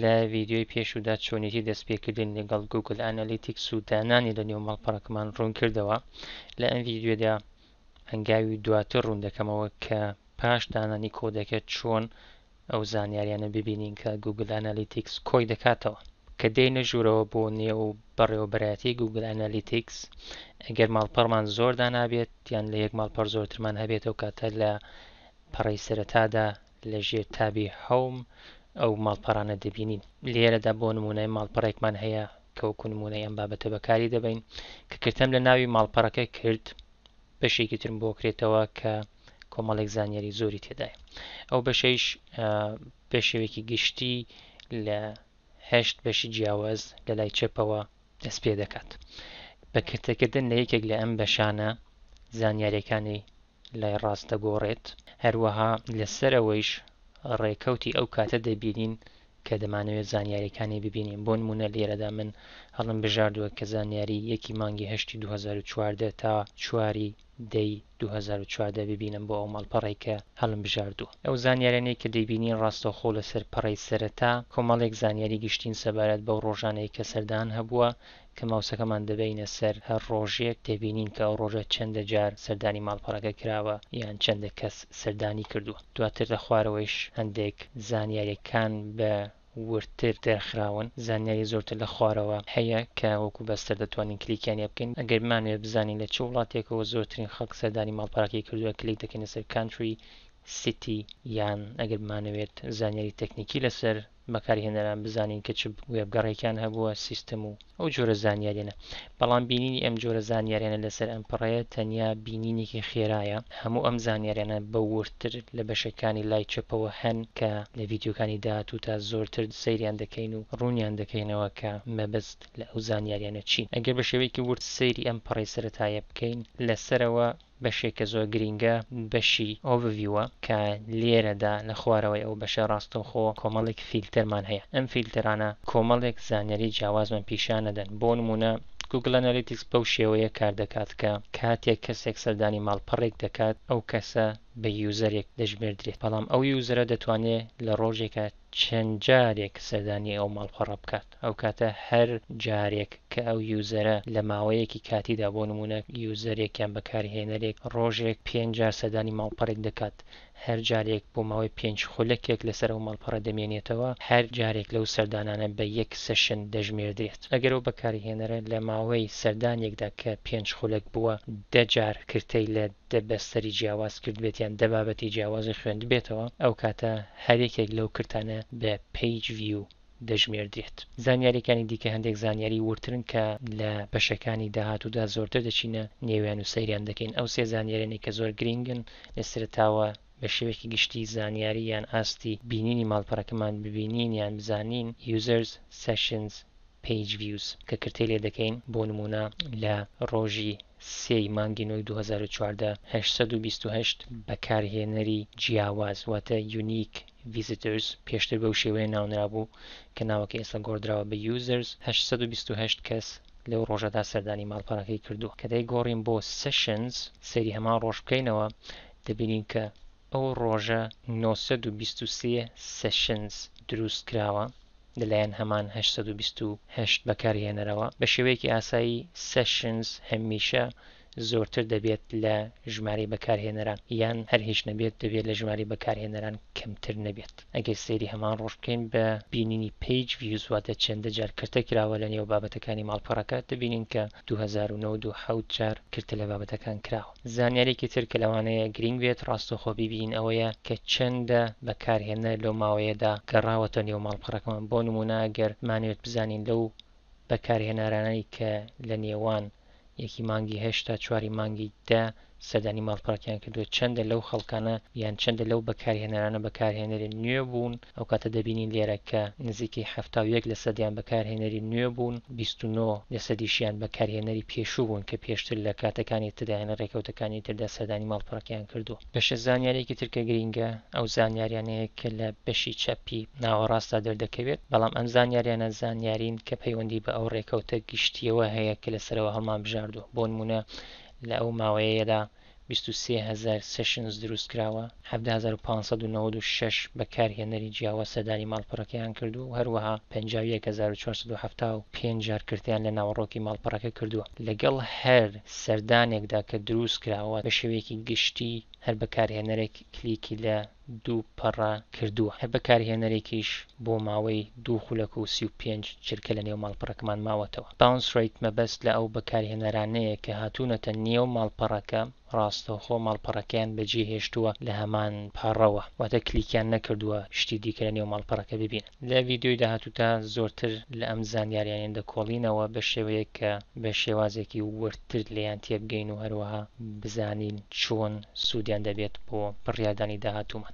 لە ڤیددیوی پێشودا چۆنیتی دەستپێکردن لەگەڵ گوگل ئەنالیتیکس و دانانی لە نێو مەڵپەڕەکەمان ڕوون کردەوە لە ئەم ڤیددیودا هەنگاوی دواتر ڕوون دەکەمەوە کە پاش دانانی کۆدەکە چۆن ئەو زانیاریانە ببینین کە گوگل ئەنالیتیکس کۆی دەکاتەوە کە دێنە ژوورەوە بۆ نێو بەڕێوەبەرایەتی گووگل ئەنالیتیکس، ئەگەر ماڵپەڕمان زۆر دانا بێت یان لە یەک ماڵپەڕ زۆرترمان هەبێت ئەو کاتە لە پەڕەی سەرەتادا لە ژێر تابی Home ئەو ماڵپەڕانە دەبینین. لێرەدا بۆ نموونە ماڵپەڕێکمان هەیە کە وەکوو نموونەی ئەم بابەتە بەکاری دەبەین، کە کرتەم لە ناوی ماڵپەڕەکە کرد، بەشێکی ترم بۆ کرێتەوە کە کۆمەڵێک زانیاری زۆری تێدایە. ئەو بەشەیش بە شێوەیەکی گشتی لە هەشت بەشی جیاواز لە لای چەپەوە دەست پێ دەکات. بە کرتەکردن لە یەکێک لە ئەم بەشانە زانیارییەکانی لای ڕاست دەگۆڕێت. هەروەها لەسەر ئەوەیش ڕێکەوتی ئەو کاتە دەبینین کە دەمانەوێت زانیارییەکانی ببینین. بۆ نموونە لێرەدا من هەڵم بژاردووە کە زانیاری یەکی مانگی هەشتی دوو هەزار و چواردە تا چواری دەی دوو هەزار و چواردە ببینم بۆ ئەو ماڵپەڕەی کە هەڵمبژاردووە. ئەو زانیاریانەی کە دەیبینین ڕاستەوخۆ لەسەر پەڕەی سەرەتا، کۆمەڵێک زانیاری گشتین سەبارەت بەو ڕۆژانەی کە سەردان هەبووە، کە ماوسەکەمان دەبەینە سەر هەر ڕۆژێک، دەبینین کە ئەو ڕۆژە چەندە جار سەردانی ماڵپەڕەکە کراوە یان چەندە کەس سەردانی کردووە. دواتر لە خوارەوەیش هەندێک زانیارییەکان بە. وردتر دەرخراون زانیاری زۆرتر لە خوارەوە هەیە کە وەکو بەستەر دەتوانین کلیکیان لێ بکەین ئەگەر بمانوێ بزانین لە چ وڵاتێکەوە زۆرترین خەڵک سەردانی ماڵپەڕەکەی کردوە کلیک دەکەینە سەر Country City یان ئەگەر بمانەوێت زانیاری تەکنیکی لەسەر بەکارهێنەران بزانین کە چ وێبگەڕێکیان هەبوە سیستم و ئەو جۆرە زانیاریانە. بەڵام بینینی ئەم جۆرە زانیاریانە لەسەر ئەم پەڕەیە تەنیا بینینێکی خێرایە. هەموو ئەم زانیاریانە بە وردتر لە بەشەکانی لای چەپەوە هەن کە لە ڤیدیۆکانی داهاتووتا زۆرتر سەیریان دەکەین و ڕوونیان دەکەینەوە کە مەبەست لە ئەو زانیاریانە چین. ئەگەر بە شێوەیەکی ورد سەیری ئەم پەڕەی سەرەتایە بکەین لە سەرەوە، بەشێکە زۆر گرینگە بەشی Overview ە کە لێرەدا لە خوارەوەی ئەو بەشە ڕاستەوخۆ کۆمەڵێک فیلتەرمان هەیە ئەم فیلتەرانە کۆمەڵێک زانیاری جیاوازمان پیشان ئەدەن بۆ نموونە Google Analytics بەو شێوەیە کار دەکات کە کاتێک کەسێک سەردانی ماڵپەڕێک دەکات ئەو کەسە بە یوزەرێک دەژمێردرێت بەڵام ئەو یوزەرە دەتوانێت لە ڕۆژێکا چەند جارێک سەردانی ئەو ماڵپەڕە بکات. ئەو کاتە هەر جارێک کە ئەو یوزەرە لە ماوەیەکی کاتیدا بۆ نموونە یوزەرێک یان بەکارهێنەرێک ڕۆژێک پێنج جار سەردانی ماڵپەڕێک دەکات هەر جارێک بۆ ماوەی پێنج خولەکێک لەسەر ئەو ماڵپەڕە دەمێنێتەوە هەر جارێک لەو سەردانانە بە یەک سێشن دەژمێردرێت ئەگەر ئەو بەکارهێنەرە لە ماوەی سەردانێکدا کە پێنج خولەک بووە دە جار کرتەی لە دە بەستەری جیاواز کردبێت یان دە بابەتی جیاوازی خوێندبێتەوە ئەو کاتە هەر یەکێک لەو کرتانە بە Page View دەژمێردرێت. زانیارییەکانی دیکە هەندێک زانیاریی وردترن کە لە بەشەکانی داهاتوودا زۆرتر دەچینە نێویان و سەیریان دەکەین. ئەو سێ زانیارییانەی کە زۆر گرینگن لە سەرەتاوە بە شێوەیەکی گشتی زانیاری یان ئاستی بینینی ماڵپەڕەکەمان ببینین یان بزانین، Users، Sessions، Page Views، کە کرتەی لێ دەکەین، بۆ نموونە لە ڕۆژی سێ ی مانگی نۆی دوو هەزار و چواردە هەشت سەد و بیست و هەشت بەکارهێنەری جیاواز واتە Unique، Visitors، پێشتر بەو شێوەیە ناونرابوو، کە ناوەکەی ئێستا گۆڕدراوە بە Users، هەشت سەد و بیست و هەشت کەس لەو ڕۆژەدا سەردانی ماڵپەڕەکەی کردووە. کە دەیگۆڕین بۆ Sessions، سەیری هەمان ڕۆژ بکەینەوە، دەبینین کە ئەو ڕۆژە نۆ سەد و بیست و سێ Sessions دروستکراوە لەلایەن هەمان هەشت سەد و بیست و هەشت بەکارهێنەرەوە. بە شێوەیەکی ئاسایی Sessions هەمیشە زۆرتر دەبێت لە ژمارەی بەکارهێنەران یان هەر هیچ نەبێت دەبێت لە ژمارەی بەکارهێنەران کەمتر نەبێت ئەگەر سەیری هەمان ڕۆژ بکەین بە بینینی پەیج ڤیوز واتە چەندە جار کرتە کراوە لە نێو بابەتەکانی ماڵپەڕەکە دەبینین کە دوو هەزار و نۆ دو حەوت جار کرتە لە بابەتەکان کراوە زانیارێکی تر کە لەوانەیە گرینگ بێت ڕاستەوخۆ بیبینین ئەوەیە کە چەندە بەکارهێنەر لەو ماوەیەدا گەڕاوەتە نێو ماڵپەڕەکەمان بۆ نموونە ئەگەر بمانەوێت بزانین لەو بەکارهێنارانەی کە لە نێوان یەکی مانگی هەشت تا چواری مانگی دە سەردانی ماڵپەڕەکیان کردووە چەندە لەو خەڵکانە یان چەندە لەو بەکارهێنەرانە بەکارهێنەری نوێ بوون ئەو کاتە دەبینین لێرە کە نزیکەی حەفتا و یەک لە سەدیان بەکارهێنەری نوێ بوون بیست و نۆ لە سەدیشیان بەکارهێنەری پێشوو بوون کە پێشتر لە کاتەکانی تردا یان لە ڕێکەوتەکانی تردا سەردانی ماڵپەڕەکیان کردووە. بەشە زانیاریەکی تر کە گرینگە ئەو زانیاریانەیە کە لە بەشی چەپی ناوەڕاستدا دەردەکەوێت بەڵام ئەم زانیاریانە زانیارین کە پەیوەندی بە ئەو ڕێکەوتە گشتیەوە هەیە کە لەسەرەوە هەڵمان بژاردووە بۆ نمونە لە ئەو ماوەیەدا بیست و سێ هەزار سێشنز دروست کراوە حەڤدە هەزار و پانز سەد و نەوەد و شەش بەکارهێنەری جیاواز سەردانی ماڵپەڕەکەیان کردووە و هەروەها پەنجا و یەک هەزار و چوار سەد و حەفتا و پێنج جار کرتیان لە ناوەڕۆکی ماڵپەڕەکە کردووە لەگەڵ هەر سەردانێکدا کە دروست کراوە بە شێوەیەکی گشتی هەر بەکارهێنەرێک کلیکی لە دوو پەڕە کردووە هەر بەکارهێنەرێکیش بۆ ماوەی دوو خولەک و سی و پێنج چرکە لە نێو ماڵپەڕەکەمان ماوەتەوە باونس ڕەیت مەبەست لە ئەو بەکارهێنەرانەیە کە هاتوونەتە نێو ماڵپەڕەکە ڕاستەوخۆ ماڵپەڕەکەیان بەجێهێشتووە لە هەمان پەڕەوە واتە کلیکیان نەکردووە شتی دیکە لە نێو ماڵپەڕەکە ببینن. لە ڤیدیۆی داهاتوودا زۆرتر لە ئەم زانیاریانە دەکۆڵینەوە بە شێوەیەک کە بە شێوازێکی وردتر لێیان تێبگەین و هەروەها بزانین چۆن سوودیان دەبێت بۆ بڕیاردانی داهاتوومان.